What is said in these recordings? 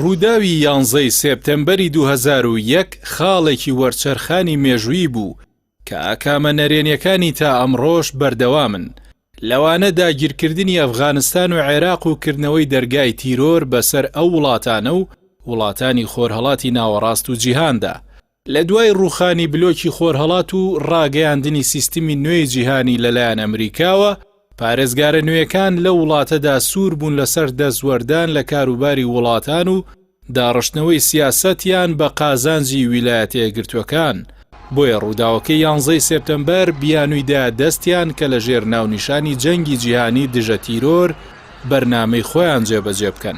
ڕووداوی یانزەی سێپتەمبەری دوو هەزار و یەک خاڵێکی وەرچەرخانی مێژوویی بوو کە ئاکامە نەرێنیەکانی تا ئەمڕۆش بەردەوامن، لەوانە داگیرکردنی ئەفغانستان و عێراق و کردنەوەی دەرگای تیرۆر بەسەر ئەو وڵاتانە و وڵاتانی خۆرهەڵاتی ناوەڕاست و جیهاندا. لە دوای ڕووخانی بلۆکی خۆرهەڵات و ڕاگەیاندنی سیستمی نوێی جیهانی لەلایەن ئەمریکاوە، پارێزگارە نوێکان لەو وڵاتەدا سوور بوون لەسەر دەستوەردان لە کاروباری وڵاتان و داڕشتنەوەی سیاسەتیان بە قازانجی ویلایەتە یەکگرتووەکان، بۆیە ڕووداوەکەی یانزەی سێپتەمبەر بیانووی دا دەستیان کە لەژێر ناونیشانی جەنگی جیهانی دژە تیرۆر بەرنامەی خۆیان جێبەجێ بکەن.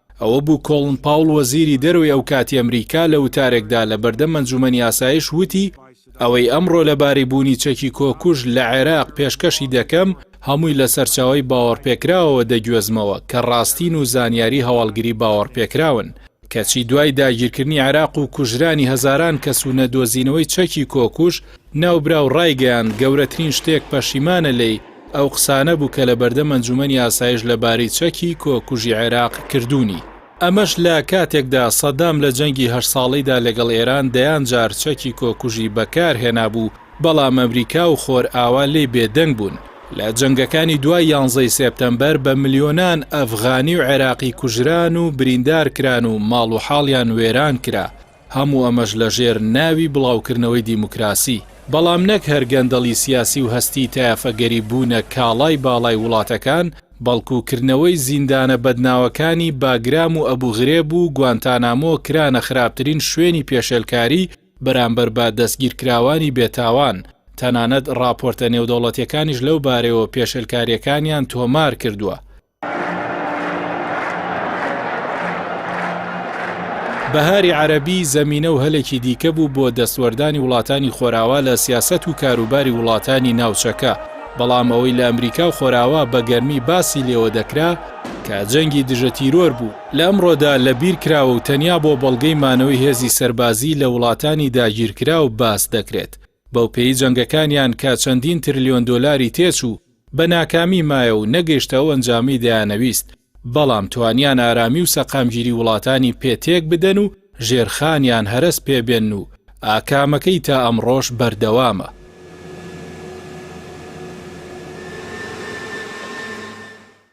ئەوە بوو کۆڵن پاوڵ وەزیری دەرەوەی ئەو کاتی ئەمریکا لە وتارێکدا لە بەردەم ئەنجومەنی ئاسایش وتی ئەوەی ئەمڕۆ لە باری بوونی چەکی کۆکوژ لە عێراق پێشکەشی دەکەم هەمووی لە سەرچاوی باوەڕپێکراوەوە دەگوێزمەوە کە ڕاستین و زانیاری هەواڵگری باوەڕپێکراون کەچی دوای داگیرکردنی عێراق و کوژرانی هەزاران کەس و نەدۆزینەوەی چەکی کۆکوژ ناوبراو ڕایگەیاند گەورەترین شتێک پەشیمانە لێی ئەو قسانە بوو کە لە بەردەم ئەنجومەنی ئاسایش لە بارەی چەکی کۆکوژی عێراق کردوونی. ئەمەش لە کاتێکدا سەدام لە جەنگی هەشت ساڵەیدا لەگەڵ ئێران دەیان جار چەکی کۆکوژی بەکار هێنابوو، بەڵام ئەمریکا و خۆرئاوا لێی بێدەنگ بوون. لە جەنگەکانی دوای یانزەی سێپتەمبەر بە ملیۆنان ئەفغانی و عێراقی کوژران و بریندار کران و ماڵ و حاڵیان وێران کرا. هەموو ئەمەش لە ژێر ناوی بڵاوکردنەوەی دیموکراسی، بەڵام نەک هەر گەندەڵی سیاسی و هەستی تایەفەگەری بوونە کاڵای باڵای وڵاتەکان، بەڵکو کردنەوەی زیندانە بەدناوەکانی باگرام و ئەبو غرێب و گوانتانامۆ کرانە خراپترین شوێنی پێشێلکاری بەرامبەر بە دەستگیرکراوانی بێتاوان، تەنانەت ڕاپۆرتە نێودەوڵەتیەکانیش لەو بارەیەوە پێشێلکاریەکانیان تۆمارکردوە. بەهاری عەرەبی زەمینە و هەلێکی دیکە بوو بۆ دەستوەردانی وڵاتانی خۆراوا لە سیاسەت و کاروباری وڵاتانی ناوچەکە، بەڵام ئەوەی لە ئەمریکا و خۆراوا بە گەرمی باسی لێوە دەکرا، کە جەنگی دژە تیرۆر بوو، لە ئەمڕۆدا لە بیر کراوە و تەنیا بۆ بەڵگەی مانەوەی هێزی سەربازی لە وڵاتانی داگیرکراو باس دەکرێت. بەوپێی جەنگەکانیان کە چەندین ترلیۆن دۆلاری تێچوو، بە ناکامی مایە و نەگەیشتە ئەو ئەنجامەی دەیانەویست، بەڵام توانیان ئارامی و سەقامگیری وڵاتانی پێ تێک بدەن و ژێرخانیان هەرەس پێ بێنن و ئاکامەکەی تا ئەمڕۆش بەردەوامە.